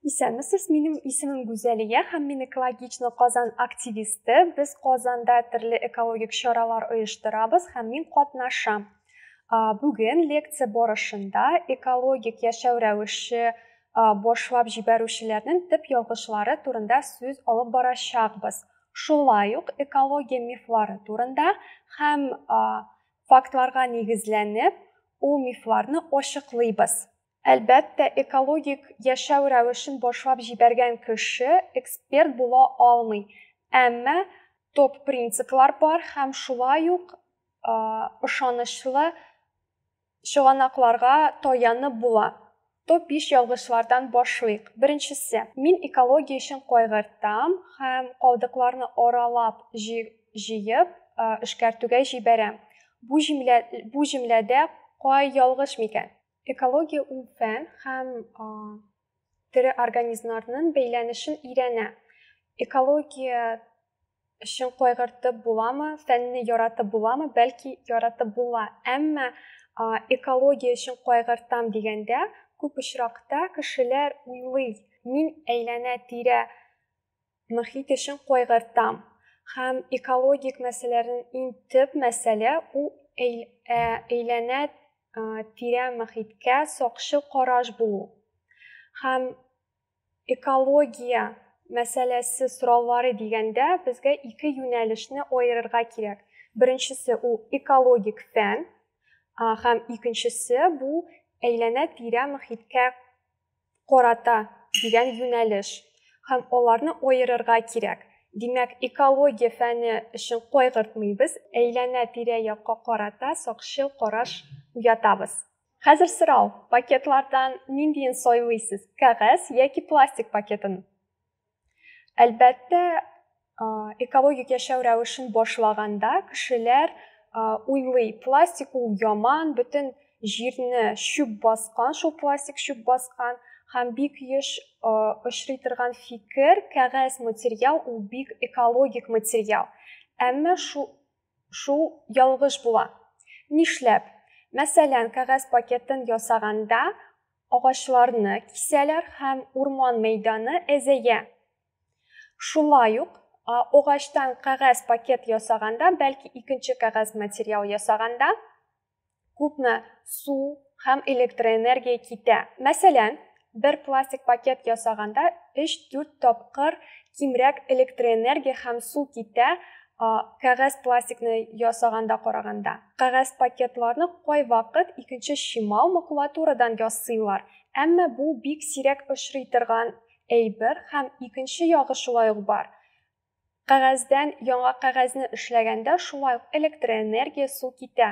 Исәнмесез, минем исемем Гүзәлия һәм мин экологично Казан активисты. Без Казанда төрле экологик чаралар оештырабыз һәм мин катнашам. Бүген лекция барышында экологик яшәү рәвеше башлап җибәрүчеләрнең төп ялгышлары турында сүз алып барачакбыз. Шулай ук экология мифлары турында һәм Фактларга нигезләнеп, ул мифларны ачыклыйбыз. Әлбәттә, экологик яшәү рәвешен башлап җибәргән кеше эксперт була алмый, әмма топ принциплар бар һәм шулай ук ышанычлы чыганакларга таянып була. Топ-биш ялгышлардан башлыйк. Беренчесе, мин экология өчен кайгыртам һәм калдыкларны аралап җыеп, эшкәртүгә җибәрәм. Бу җөмлә, бу җөмләдә кай ялгыш микән? Экология ул фән һәм тере организмнарнын бәйләнешен өйрәнә. Экология Өчен кайгыртып буламы, фәнне яратып буламы, бәлки яратып була. Әмма экология өчен кайгыртам дигәндә, күп очракта кешеләр уйлый, мин әйләнә тирә мөхит өчен кайгыртам. Һәм экологик мәсьәләләрнең иң төп мәсьәлә ул әйләнә тирә мөхиткә сакчы караш булу. Һәм Экология мәсьәләсе сораулары дигәндә, безгә ике юнәлешне аерырга кирәк. Беренчесе, ул экологик фән, һәм икенчесе, бу әйләнә-тирә мохиткә карата дигән юнәлеш. Һәм аларны аерырга кирәк. Димәк, экология фәне өчен кайгыртмыйбыз, әйләнә-тирә-якка карата сакчыл караш уятабыз. Хәзер сорау, пакетлардан ниндиен сайлыйсыз, кәгазь яки пластик пакетын? Әлбәттә, экологик яшәү рәвешен башлаганда кешеләр уйлый, пластик ул яман, бөтен җирне чүп баскан, шул пластик чүп баскан һәм бик еш очрый торган фикер, кәгазь материал ул бик экологик материал. Әмма шул Шул ялгыш була. Нишләп? Мәсәлән, кәгазь пакетын ясаганда агачларны кисәләр һәм урман мәйданы әзәя. Шулай ук, агачтан кәгазь пакет ясаганда, бәлки икенче кәгазь материал ясаганда, күпме су һәм электроэнергия китә. Мәсәлән, бер пластик пакет ясаганда 3-4 тапкыр кимрәк электроэнергия һәм су китә кәгазь пластикны ясаганда караганда. Кәгазь пакетларны кайвакыт икенче чимал макулатурадан ясыйлар, әмма бу бик сирәк очрый торган әйбер һәм икенче ягы шулай ук бар. Кәгазьдән яңа кәгазьне эшләгәндә шулай ук электроэнергия, су китә.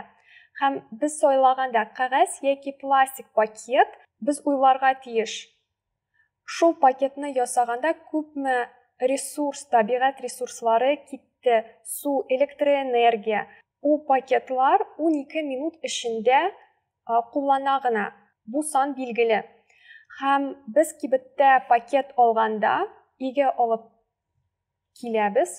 Һәм без сайлаганда кәгазь яки пластик пакет, без уйларга тиеш, шул пакетны ясаганда күпме ресурс, табигать ресурслары китте, су, электроэнергия. Ул пакетлар унике минут эчендә куллана гына. Бу сан билгеле. Һәм без кибеттә пакет алганда, өйгә алып киләбез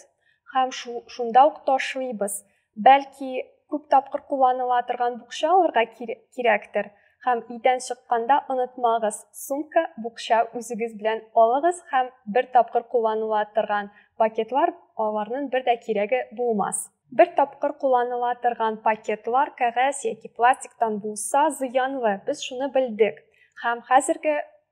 һәм шунда ук ташлыйбыз. Бәлки, күп тапкыр кулланыла торган букча алырга кирәктер? Һәм өйдән чыкканда онытмагыз, сумка, букча үзегез белән алыгыз һәм бер тапкыр кулланыла торган пакетлар, аларның бер дә кирәге булмас. Бер тапкыр кулланыла торган пакетлар кәгазь яки пластиктан булса зыянлы, без шуны белдек. Һәм хәзерге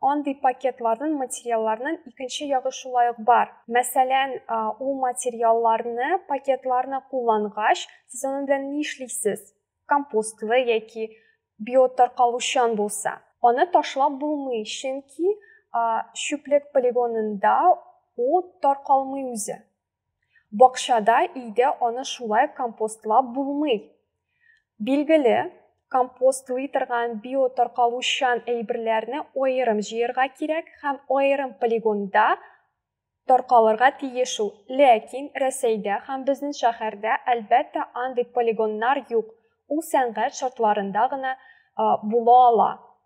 Андый пакетларнын, материалларнын икенче ягы шулай ук бар. Мәсәлән, ул материалларны, пакетларны куллангач, сез аның белән ни эшлисез? Компостлы яки биотаркалучан булса, аны ташлап булмый, чөнки чүплек полигонында ул таркалмый үзе. Бакчада, өйдә аны шулай компостлап булмый. Билгеле, компостлый торган биотаркалучан әйберләрне аерым җыярга кирәк һәм аерым полигонда таркалырга тиеш ул. Ләкин Рәсәйдә һәм безнең шәһәрдә, әлбәттә, андый полигоннар юк, ул сәнгать шартларында гына була ала.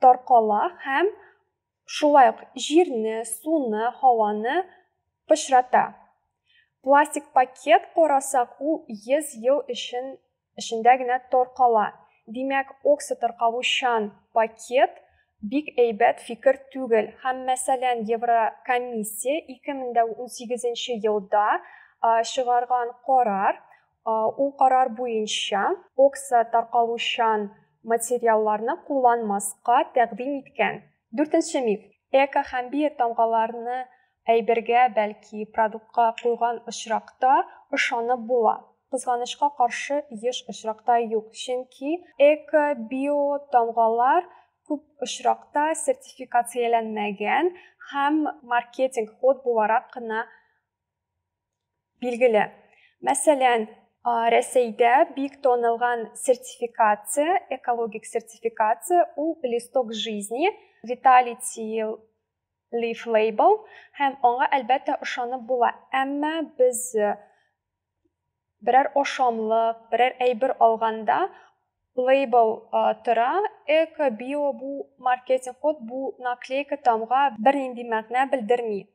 таркала һәм шулай ук җирне, суны, һаваны пычрата. Пластик пакет карасак, ул 100 ел өчен эчендә генә таркала. Димәк, оксотаркалучан пакет бик әйбәт фикер түгел. Һәм, мәсәлән, Еврокомиссия 2018 елда чыгарган карар Ул карар буенча, окса таркалучан материалларны кулланмаска тәкъдим иткән. Дүртенче миф. Эко һәм биотамгаларны әйбергә, бәлки продуктка куйган очракта ышанып була. Кызганычка каршы, еш очракта юк, чөнки эко, биотамгалар күп очракта сертификацияләнмәгән һәм маркетинг ход буларак кына билгеле. Мәсәлән, Рәсәйдә бик танылган сертификация, экологик сертификация, ул листок жизни, Vitality Leaf Label һәм аңа әлбәттә ошанып була. Әмма без э, берәр ашамлык, берәр әйбер алганда лейбл э, тора, эко, био бу маркетинг код, бу наклейка тамга бернинди мәгънә белдерми.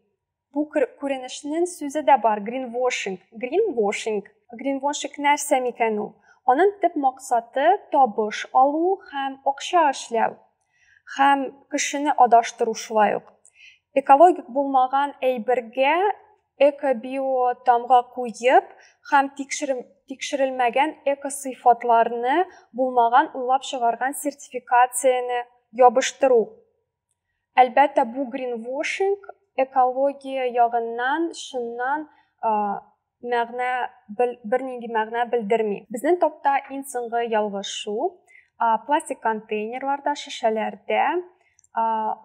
Бу күренешнең сүзе дә бар, гринвошинг. Гринвошинг. Гринвошинг нәрсә микән ул? Аның төп максаты табыш алу һәм акча эшләү һәм кешене адаштыру шулай ук. Экологик булмаган әйбергә эко-био тамга куеп һәм тикшерелмәгән эко-сыйфатларны булмаган уйлап чыгарган сертификацияне ябыштыру. Әлбәттә, бу гринвошинг экология ягыннан шуннан мәгънә бернинди мәгънә белдерми. Безнең топта иң соңгы ялгыш шул. Пластик контейнерларда, шешәләрдә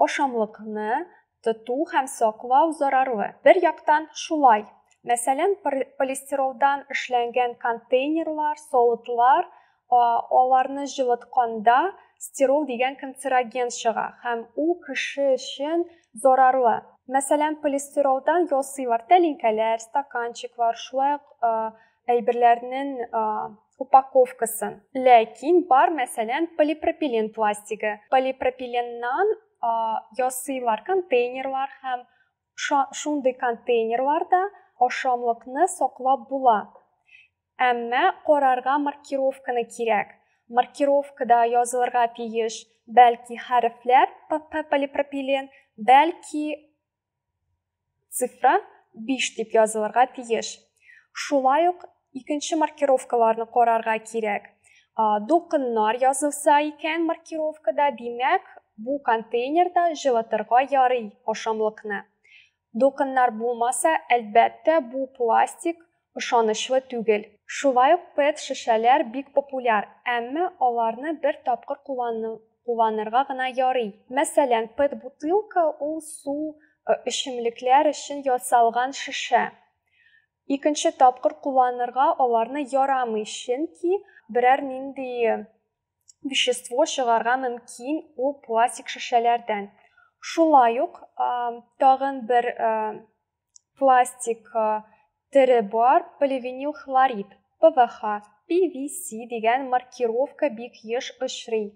ашамлыкны тоту һәм саклау зарарлы. Бер яктан шулай. Мәсәлән, полистиролдан эшләнгән контейнерлар, савытлар аларны җылытканда стирол дигән канцероген чыга һәм ул кеше өчен зарарлы. Мәсәлән, полистиролдан ясыйлар тәлинкәләр, стаканчиклар, шулай ук әйберләрнең упаковкасын. Ләкин бар, мәсәлән, полипропилен пластигы. Полипропиленнан ясыйлар контейнерлар һәм шундый контейнерларда ашамлыкны саклап була. Әмма карарга маркировканы кирәк. Маркировкада язылырга тиеш бәлки хәрефләр ПП полипропилен, бәлки цифра 5 дип язылырга тиеш. Шулай ук икенче маркировкаларны карарга кирәк. Дулкыннар язылса икән маркировкада, димәк, бу контейнерда җылытырга ярый ашамлыкны. Докыннар булмаса, әлбәттә, бу пластик ышанычлы түгел. Шулай ук пэт шешәләр бик популяр, әмма аларны бер тапкыр кулланырга гына ярый. Мәсәлән, пэт бутылка ул су, эчемлекләр өчен ясалган шешә. Икенче тапкыр кулланырга аларны ярамый, чөнки берәр нинди вещество чыгарга мөмкин ул пластик шешәләрдән. Шулай ук тагын бер пластик тере бар, поливинил хлорид, ПВХ, PVC дигән маркировка бик еш очрый.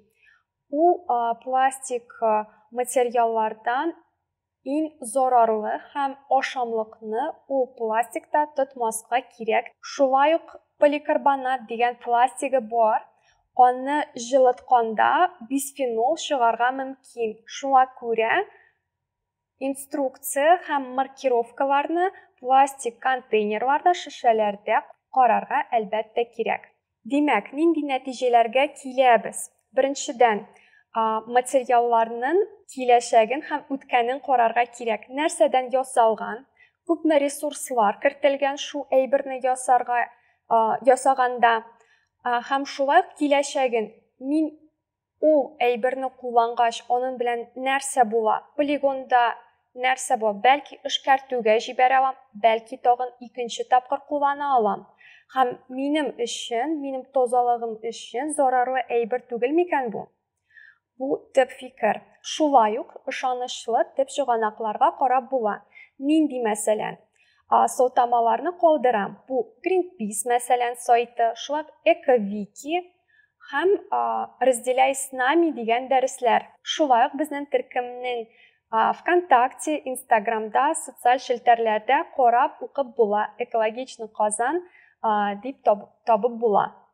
Ул пластик материаллардан Иң зарарлы һәм ашамлыкны ул пластикта тотмаска кирәк, шулай ук поликарбонат дигән пластигы бар, аны җылытканда бисфенол чыгарга мөмкин, шуңа күрә инструкция һәм маркировкаларны пластик контейнерларда, шешәләрдә карарга әлбәттә кирәк. Димәк, нинди нәтиҗәләргә киләбез? Беренчедән, материалларның киләчәген һәм үткәнен карарга кирәк. Нәрсәдән ясалган? Күпме ресурслар кертелгән шул әйберне ясарга, ясаганда? Һәм шулай ук киләчәген мин Ул әйберне куллангач, анын белән нәрсә була? Полигонда нәрсә була? Бәлки эшкәртүгә җибәрә алам, бәлки тагын икенче тапкыр куллана алам. Һәм минем өчен, минем тазалыгым өчен зарарлы әйбер түгел микән бу? Бу төп фикер. Шулай ук ышанычлы төп чыганакларга карап була. Нинди мәсәлән? Сылтамаларны калдырам. Бу Greenpeace мәсәлән сайты, шулай ук Экавики, һәм Разделяй с нами дигән дәресләр. Шулай ук безнең төркемнең ВКонтакте, Инстаграмда, социаль челтәрләрдә карап, укып була, Экологичный Казан дип табып була.